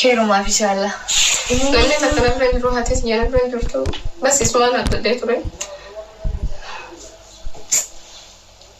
Keerumaaf ishaallaa. Namni takka na bira hin jiru haati tiyya na bira hin jirtu bas isumaan abdadhee ture.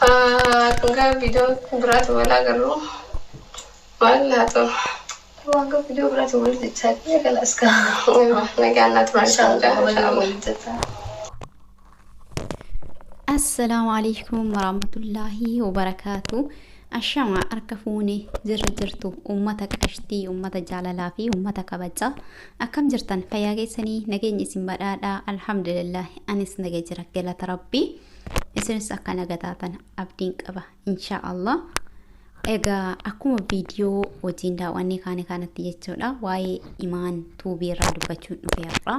Hanga video biraati wal agarru maal naa ta'u. Hanga video biraati wal jechaa kiyya kalaas ka. Nagaan naa turaa isaan jaa. Inshallah. Assalaamu alaikum warahmatullaahi wabarakaatu. Ashama harka fuune jirra jirtu uummata qashtii uummata jaalalaa fi uummata kabajaa akkam jirtan fayyaa keessanii nageenya isin badhaadhaa alhamdulillah anis naga jira galata rabbii. isinis akka naga taatan abdiin qaba inshaa allah egaa akkuma viidiyoo wajjin daawwannee kaane kanatti jechuudha waa'ee imaan tuubii irraa dubbachuun dhufe har'a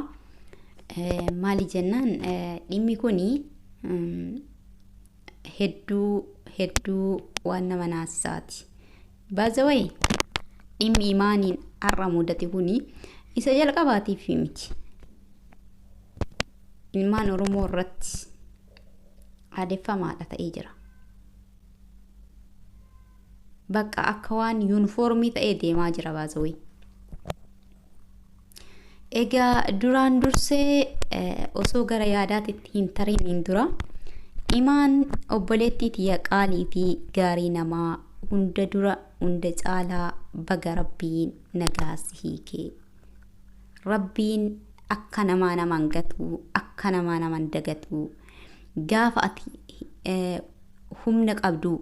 Eh, maali jennaan eh, dhimmi kuni mm, hedduu hedduu waan nama naasisaati By the way, dhimmi imaaniin har'a mudate kuni isa jalqabaatiif miti. Ilmaan Oromoo irratti aadeffamaadha ta'ee jira. Bakka akka waan yuunifoormii ta'ee deemaa jira baazawee. Egaa duraan dursee eh, osoo gara yaadaatitti hin tariniin dura imaan obboleettii tiyya qaalii fi gaarii namaa hunda dura hunda caalaa baga rabbiin nagaa si hiikee. Rabbiin akka namaa naman gatu, akka namaa naman dagatu, gaafa ati eh, humna qabdu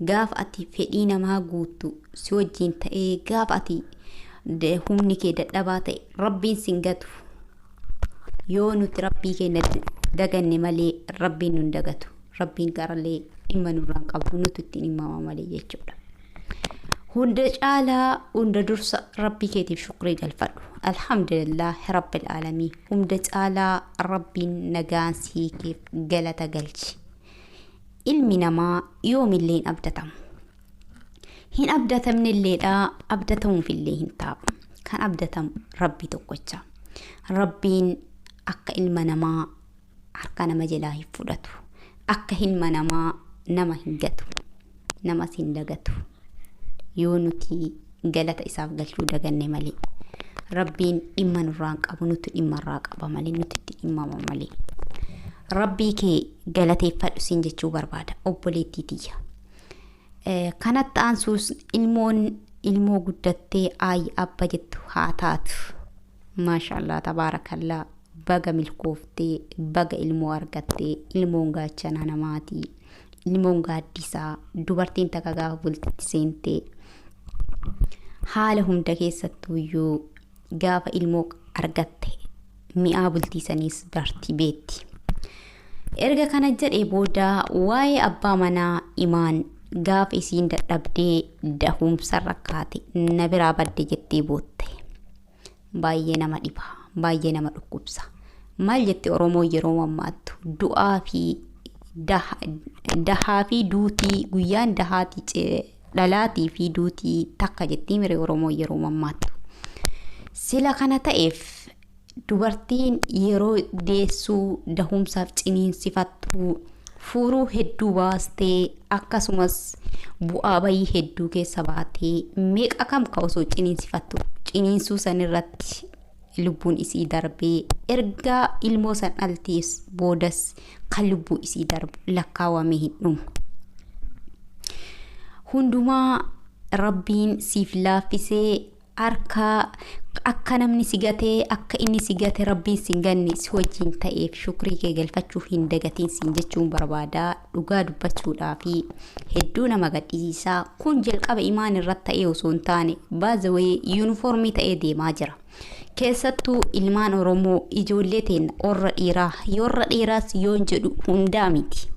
Gaafa ati fedhii namaa guuttu si wajjiin ta'ee gaafa ati d- humni kee dadhabaa ta'e rabbiin sin gatu yoo nuti rabbii keenya d- daganne malee rabbiin nun dagatu rabbiin garallee dhimma nurraan qabu nutu ittiin himmama malee jechuudha hunda caalaa hunda dursa rabbii keetiif shukrii galfadhu alhamdulillah rabbil aalamiin hunda caalaa rabbiin nagaan siikiif galata galchi Ilmi namaa yoomillee hin abdatamu. Hin abdatamnelleedha, abdatamuufillee hin taa'u. Kan abdatamu Rabbii tokkocha. Rabbiin akka ilma namaa harka nama jalaa hin fudhatu. Akka ilma namaa nama hin gatu. namas hin dagatu yoo nuti galata isaaf galchuu daganne malee rabbiin dhimma nurraa hin qabu nuti dhimma irraa qaba malee nuti itti dhimmama malee rabbii kee galateeffadhu siin jechuu barbaada obboleettii tiyya Eh, kanatti aansuus ilmoon ilmoo guddattee aayyi abba jettu haa taatu maashaallah tabaarakallaa baga milkooftee baga ilmoo argattee ilmoon gaachanaa namaatii Ilmoon gaaddisaa dubartiin takka gaafa bultitti seente haala hunda keessattuu iyyuu gaafa ilmoo argatte mi'aa bultiisaniis barti beetti. Erga kana jedhee booda waa'ee abbaa manaa imaan gaafa isiin dadhabdee dahuumsa rakkaate na biraa badde jettee bootte. Baay'ee nama dhiba. Baay'ee nama dhukkubsa. Maal jette Oromoo yeroo mammaattu? Du'aa fi dahaa fi duutii guyyaan dahaati dhalaatii fi duutii takka jettii mire Oromoo yeroo mammaattu. Sila kana ta'eef dubartiin yeroo deessuu dahumsaaf ciniinsifattuu Fuuruu hedduu baastee akkasumas bu'aa bayii hedduu keessa baatee meeqa kam ka osoo ciniinsifattu ciniinsuu san irratti lubbuun isii darbee ergaa ilmoo san dhaltees boodas kan lubbuu isii darbu lakkaawamee hin dhumu. Hundumaa rabbiin siif laaffisee Arka Akka namni si gate akka inni si gate rabbiin sin ganne si wajjiin ta'eef shukrii kee galfachuu hin dagatiin siin jechuun barbaada dhugaa dubbachuudhaa fi hedduu nama gadhisiisaa kun jalqaba imaan irratti ta'ee osoo hin taane baazawee yuunifoormii ta'ee deemaa jira keessattuu ilmaan oromoo ijoollee teenna warra dhiiraa warra dhiiraas yoon jedhu hundaa miti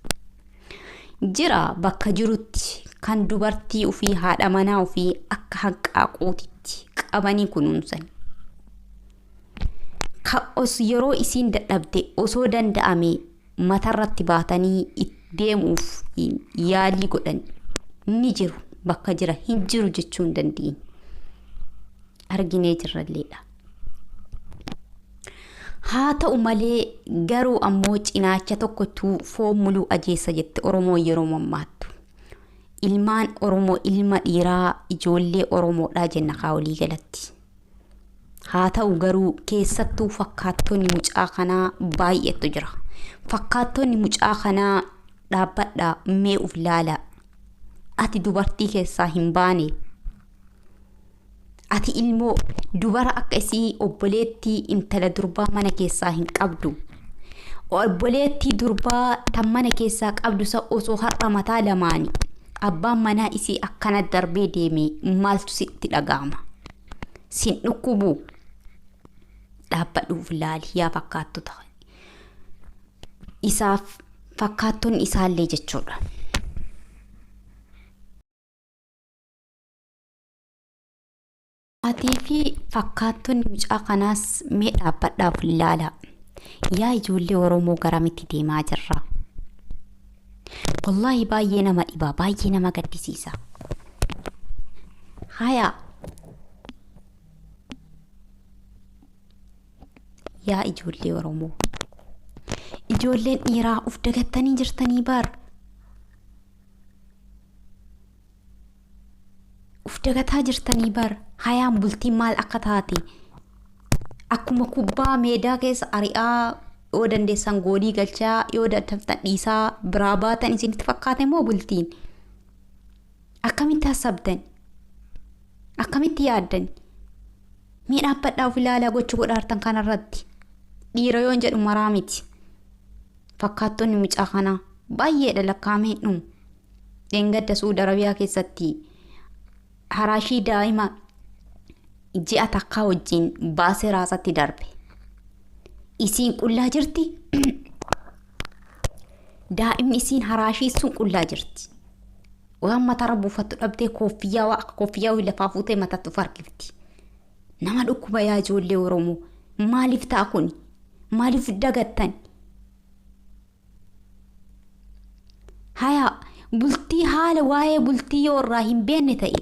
Jira bakka jirutti kan dubartii ufii haadha manaa ufii akka hanqaaquutitti qabanii kunuunsan. Ka os yeroo isiin dadhabde osoo danda'ame matarratti baatanii it- deemuuf yaalii godhan ni jiru bakka jira hin jiru jechuu hin dandeenye. arginee jirralleedha. Haa ta'u malee garuu ammoo cinaacha tokkotu foon muluu ajeessa jette Oromoo yeroo mammaattu. Ilmaan Oromoo ilma dhiiraa ijoollee Oromoodhaa jenna kaa olii galatti. Haa ta'u garuu keessattuu fakkaattonni mucaa kanaa baay'eetu jira. Fakkaattonni mucaa kanaa dhaabbadhaa mee uf laala. Ati dubartii keessaa hin baane. Ati ilmoo dubara akka isii obboleettii intala durbaa mana keessaa hin qabdu. Obboleettii durbaa tan mana keessaa qabdu san osoo har'a mataa lamaani abbaan manaa isii akkana darbee deeme maaltu sitti dhaga'ama? Sin dhukkubuu? Dhaabbadhuuf laali yaa fakkaattota. Isaaf fakkaattonni isaallee jechuudha. Atii fi fakkaattonni mucaa kanaas mee dhaabbadhaa of ilaalaa. Yaa ijoollee Oromoo garamitti deemaa jirra? Wallaahi baay'ee nama dhiba, baay'ee nama gaddisiisa. Haya yaa ijoollee Oromoo. Ijoolleen dhiiraa of dagattanii jirtanii bar. Uf dagataa jirtanii bar hayaan bultiin maal akka taate akkuma kubbaa meedaa keessa ari'aa yoo dandeessan goolii galchaa yoo dadhabdan dhiisaa biraa baatan isinitti fakkaate moo bultiin akkamitti hassabdan akkamitti yaaddan mee dhaabbadhaa of ilaalaa gocha godhaartan kanarratti dhiira yoon jedhu maraa miti fakkaattonni mucaa kanaa baay'eedha lakkaa'amee hin dhumu Dheengadda Su'uud Arabiyaa keessatti haraashii daa'ima ji'a takkaa wajjin baasee raasatti darbe. Isiin qullaa jirti. Daa'imni isiin haraashii sun qullaa jirti. Waan mataarra buufattu dhabdee koffiyyaa waa akka koffiyyaa wayii lafaa fuutee mataatti of harkifti. Nama dhukkuba yaa ijoollee Oromoo. Maaliif ta'a kuni? Maaliif dagattan? hayaa bultii haala waa'ee bultii yoo irraa hin beenne ta'e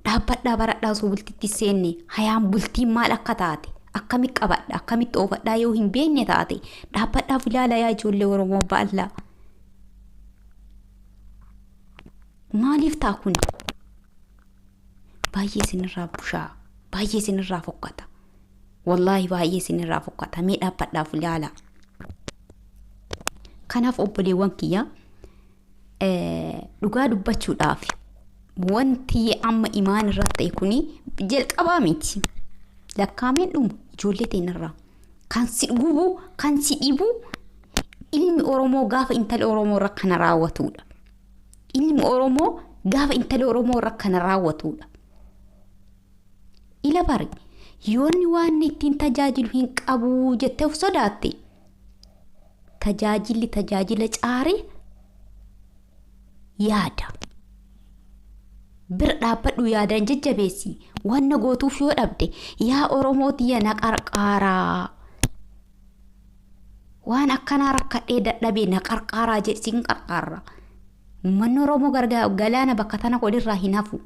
dhaabbadhaa baradhaa osoo bultitti hin seenne hayaan bultiin maal akka taate akkamitti qabadha akkamitti oofadhaa yoo hin beenne taate dhaabbadhaaf ilaala yaa ijoollee oromoo baallaa maaliif ta'a kun baay'ee isinirraa bushaa baay'ee isinirraa fokkata Wallaahi baay'ee isinirraa fokkata mee dhaabbadhaaf ilaala. Kanaaf obboleewwan kiyya dhugaa dubbachuudhaaf wanti amma imaan irratti ta'e kuni jalqabaa miti. Lakkaameen dhumu ijoollee teenyarraa kan si gubu kan si dhibu ilmi Oromoo gaafa intala Oromoo irra kana raawwatudha. Ilmi Oromoo gaafa intala Oromoo irra kana raawwatudha. Ila bari yoonni waanni ittiin tajaajilu hin qabu jettee of sodaatte. Tajaajilli tajaajila caare yaada. Bira dhaabbadhu yaadaan jajjabeessi. Wanna gootuuf yoo dhabde yaa Oromoo tiyya na qarqaaraa. Waan akkanaa rakkadhee dadhabee na qarqaaraa jedhe sin qarqaarra. Ummanni Oromoo gargaa galaana bakka tana godhirraa hin hafu.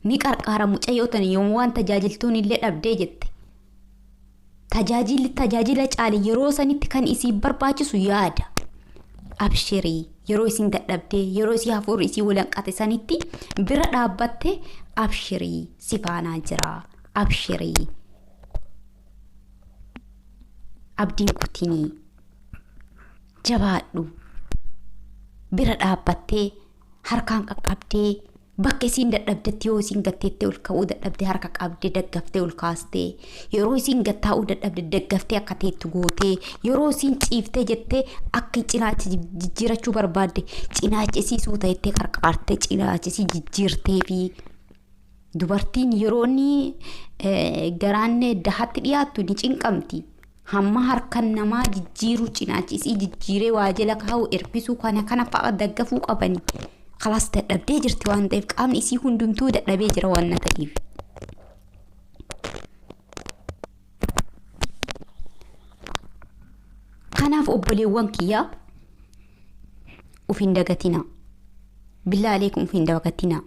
Ni qarqaara mucayyoo tana yoom waan tajaajiltuun illee dhabdee jette. Tajaajilli tajaajila caale yeroo sanitti kan isii barbaachisu yaada. Abshirii yeroo isin dadhabdee yeroo isii hafuurri isii walanqate sanitti bira dhaabbatte abshirii si faanaa jira. Abshirii. abdiin kutinii jabaadhu bira dhaabbattee harkaan qaqqabdee bakka isiin dadhabdetti yoo isiin gatteettee ol ka'uu dadhabde harka qabdee daggaftee ol kaastee yeroo isiin gattaa'uu dadhabde daggaftee akka teettu gootee yeroo isiin ciiftee jettee akka cinaacha jib- jijjiirachuu barbaadde cinaacha isii suuta jettee qarqaartee cinaacha isii jijjiirtee fi Dubartiin yeroo inni garaan dahatti dhiyaattu ni cinqamti. Hamma harkan namaa jijjiiruu cinaachi isii jijjiiree waa jala kaa'u ergisuu kana kana fa'a daggafuu qabani. Kalaas dadhabdee jirti waan ta'eef qaamni isii hundumtuu dadhabee jira waan na ta'eef. Kanaaf obboleewwan kiyyaa of hin dagatinaa. Billaa aleekum of hin dagatinaa.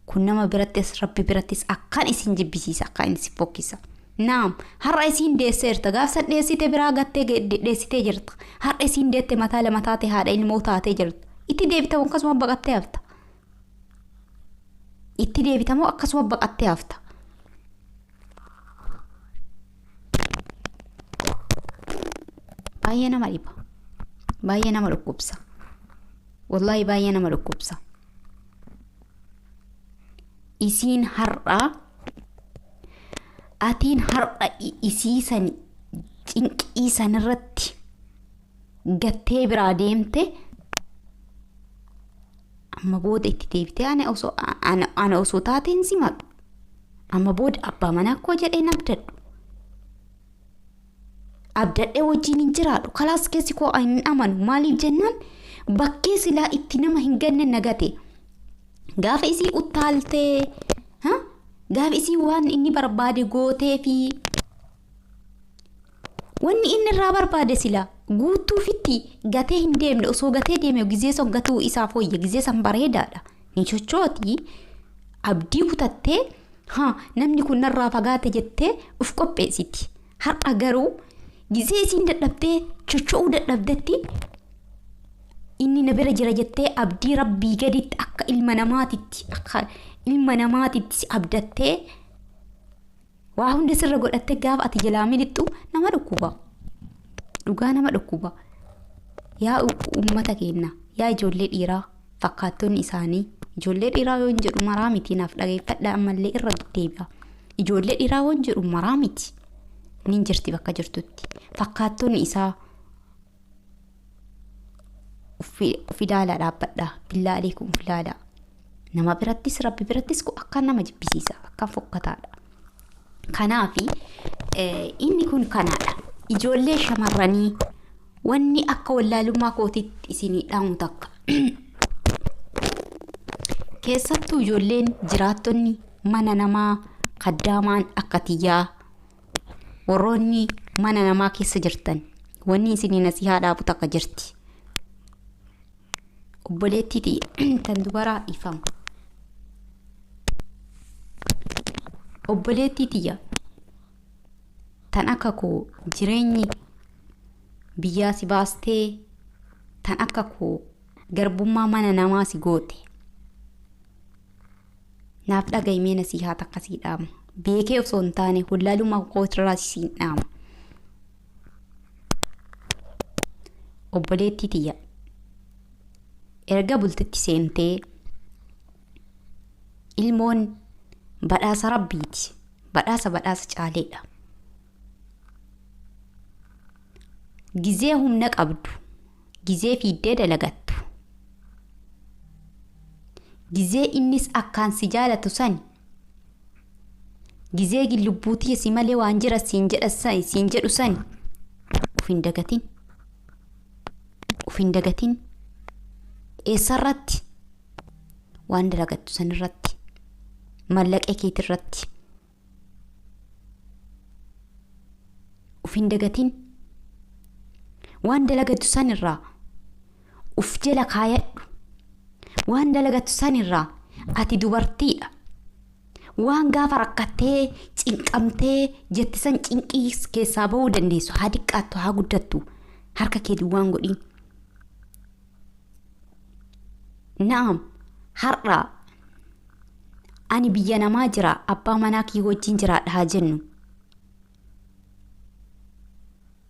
Kun nama birattis Rabbi birattis akkaan isin jibbisiisa, akkaan isin fokkisa. Naam, har'a isiin deesseerta, gaaf san dheessite biraa gattee ge- de- dheessitee jirta. Har'a isiin deette mataa lama taate haadha ilmoo taatee jirta. Itti deebitamu akkasuma baqattee hafta. Itti deebitamu akkasuma baqattee hafta. Baay'ee nama dhiba. Baay'ee nama dhukkubsa. Wallaahi baay'ee nama dhukkubsa. isiin har'a atiin har'a i- isii san cinqii san irratti gattee biraa deemte amma booda itti deebitee ana osoo ana, ana osoo taateen simadhu amma booda abbaa manaa koo jedhee nabdadhu abdadhee wajjiin hin jiraadhu kalaas keessi koo hin amanu maaliif jennaan bakkee silaa itti nama hin ganne nagate gaafa isii uttaaltee ha? gaafa isii waan inni barbaade gootee fi wanni inni irraa barbaade silaa guutuufitti gatee hin deemne osoo gatee deeme gizee san gatuu isaaf wayya gizee san bareedaadha Ni chochooti. Abdii kutattee ha namni kun narraa fagaate jettee uf qopheessiti. Har'a garuu gizee isiin dadhabdee chocho'uu dadhabdetti inni na bira jira jettee abdii rabbii gaditti akka ilma namaatitti akka ilma namaatitti si abdattee Waa hunda sirra godhattee gaafa ati jalaa miliqxu nama dhukkuba. Dhugaa nama dhukkuba. Yaa uummata keenya, yaa ijoollee dhiiraa fakkaattonni isaanii. Ijoollee dhiiraa yoon jedhu maraa miti naaf dhageeffadha ammallee irra deebi'a. Ijoollee dhiiraa yoon jedhu maraa miti. Nin jirti bakka jirtutti. Fakkaattonni isaa of ilaalaa dhaabbadha billaa aleekum of ilaalaa nama birattis rabbi birattis kun akkaan nama jibbisiisa akkaan fokkataadha kanaafi inni kun kanaadha ijoollee shamarranii wanni akka wallaalummaa kootitti isinii dhaamu takka keessattuu ijoolleen jiraattonni mana namaa kaddaamaan akka tiyyaa warroonni mana namaa keessa jirtan wanni isinii nasihaa dhaabu takka jirti obboleettii tiyya tan dubaraa dhiifama obboleettii tiyya tan akka koo jireenyi biyyaa si baastee tan akka koo garbummaa mana namaa si goote Naaf dhagahi mee nasiihaa takka sii dhaama. Beekee osoo hin taane wallaalummaa kootirraas siin dhaama. Obboleettii tiyya erga bultitti seentee ilmoon badhaasa rabbiiti. Badhaasa badhaasa caaleedha. Gizee humna qabdu Gizee fiiddee dalagattu. Gizee innis akkaan si jaalatu sani. Gizee gin lubbuu tiyya si malee waan jira siin jedha sani siin jedhu sani. Uf hin dagatin. Uf hin dagatin. Eessarratti? Waan dalagattu sanirratti. Mallaqee keetirratti. uf hin dagatin waan dalagatu san irraa uf jala kaayadhu waan dalagatu san irraa ati dubartiidha waan gaafa rakkattee cinqamtee jette san cinqii keessaa ba'uu dandeessu haa diqqaattu haa guddattu harka kee duwwaan godhin Na'am, har'a ani biyya namaa jira abbaa manaa kiyya wajjin jiraadha haa jennu.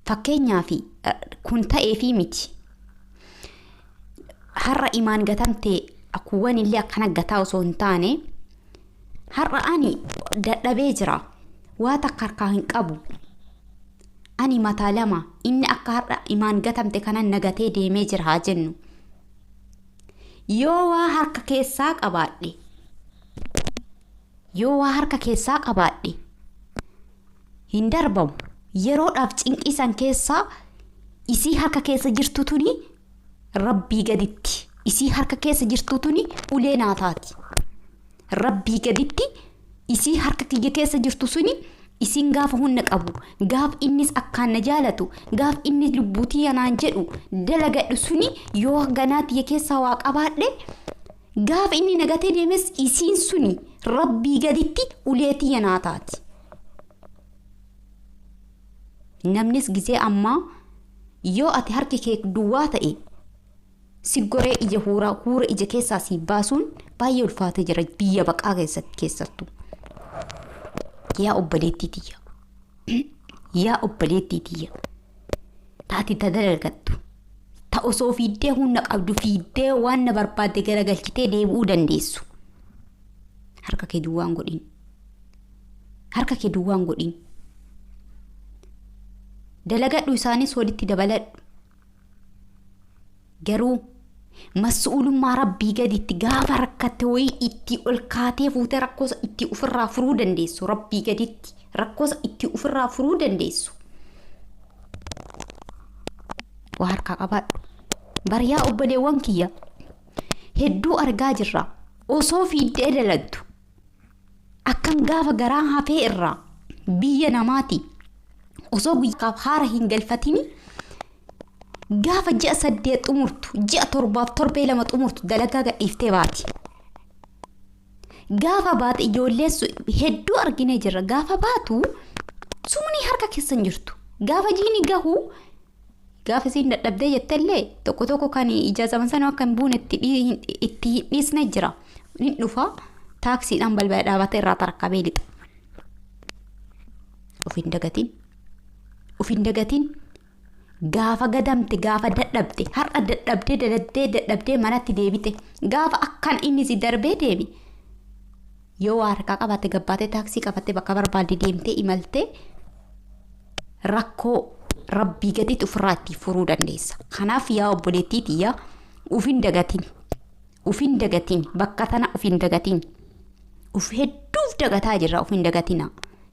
Fakkeenyaaf kun ta'eefii miti. Har'a imaan gatamtee akkuwwan illee akkana gataa osoo hin taane har'a ani dadhabee jira. Waa takka harkaa hin qabu. Ani mataa lama inni akka har'a imaan gatamte kanan na gatee deemee jira haa jennu. Yoo waa harka keessaa qabaadhe yoo waa harka keessaa qabaadhe hin darbamu. Yeroodhaaf cinqii san keessaa isii harka keessa jirtu tuni rabbii gaditti isii harka keessa jirtu tuni ulee naa taati. Rabbii gaditti isii harka kiyya keessa jirtu suni isiin gaafa hunna qabu gaaf innis akkaan na jaalatu gaaf inni lubbuu tiyya naan jedhu dalagadhu suni yoo ganaa tiyya keessaa waa qabaadhe gaaf inni nagatee deemes isiin suni rabbii gaditti ulee tiyya naa taati. Namnis gizee ammaa yoo ati harki kee duwwaa ta'e Siggoree ija huuraa huura ija keessaa sii baasuun baay'ee ulfaatee jira biyya baqaa keessatti keessattu. Yaa obboleettii tiyya. Yaa obboleettii tiyya. Taati ta dalagattu. Ta osoo fiiddee humna qabdu fiiddee waan na barbaadde garagalchitee deebi'uu dandeessu. Harka kee duwwaan godhin. Harka kee duwwaan godhin. Dalagadhu isaanis walitti dabaladhu. Garuu mas'uulummaa Rabbii gaditti gaafa rakkatte wayii itti ol kaatee fuutee rakkoosa itti ufirraa furuu dandeessu Rabbii gaditti rakkoosa itti ufirraa furuu dandeessu. Waa harkaa qabaadhu. Bariyaa obboleewwan kiyya hedduu argaa jirra osoo fiiddee dalagdu Akkam gaafa garaa hafee irraa biyya namaati osoo guyyaaf haara hin galfatini gaafa ji'a saddeet xumurtu ji'a torbaaf torbee lama xumurtu dalagaa gadhiiftee baati. Gaafa baate ijoollee su- hedduu arginee jirra gaafa baatu sumni harka keessan jirtu gaafa jiini gahu Gaafa isiin dadhabdee jettellee tokko tokko kan ijaazaman sanuu akka hin buune itti dhii- hin- itti hin dhiisne jira. Hin dhufa taaksiidhaan balbala dhaabatee irraa tarakkabee lixa. Of hin dagatiin. Of hin dagatiin. Gaafa gadamte gaafa dadhabde har'a dadhabdee dadhabdee dadhabdee manatti deebite gaafa akkan inni si darbee deemi Yoo waa harkaa qabaatte gabbaatee taaksii qabattee bakka barbaadde deemtee imaltee rakkoo rabbii gaditti ofirraa itti furuu dandeessa. Kanaaf yaa obboleettii tiyya ufin dagatin. Ufin dagatin. Bakka tana ufin dagatin. Uf hedduuf dagataa jirra ufin dagatina.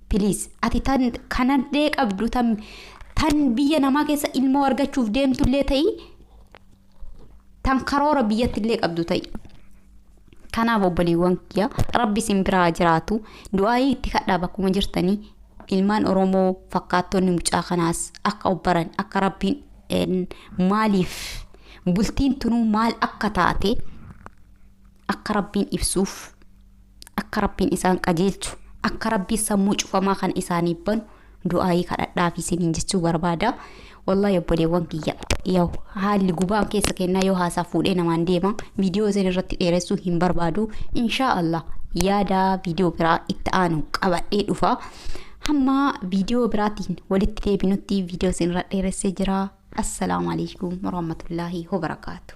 Piliis ati tan kanallee qabdu tan tan biyya namaa keessa ilmoo argachuuf deemtullee ta'ii tan karoora biyyattillee qabdu ta'i. Kanaaf obboleewwan kiyya rabbi isin biraa jiraatu du'aayii itti kadhaa bakkuma jirtanii ilmaan Oromoo fakkaattonni mucaa kanaas akka obbaran akka rabbiin een, maaliif bultiin tunuu maal akka taate akka rabbiin ibsuuf Akka Rabbiin isaan qajeelchu, akka Rabbiin sammuu cufamaa kana isaaniif banu du'aayii kadhadhaaf isiniin jechuu barbaada. Wallahi obboleewwan kiyya yoo haalli gubaan keessa kennaa yoo haasaa fuudhee namaan deema viidiyoo isin irratti dheeressuu hin barbaadu. Inshaa Allah yaada viidiyoo biraa itti aanu qabadhee dhufa. Hamma viidiyoo biraatiin walitti deebinutti viidiyoo isin irra dheeressee jira. Assalaamu alaikum warahmatullaahi wabarakaatu.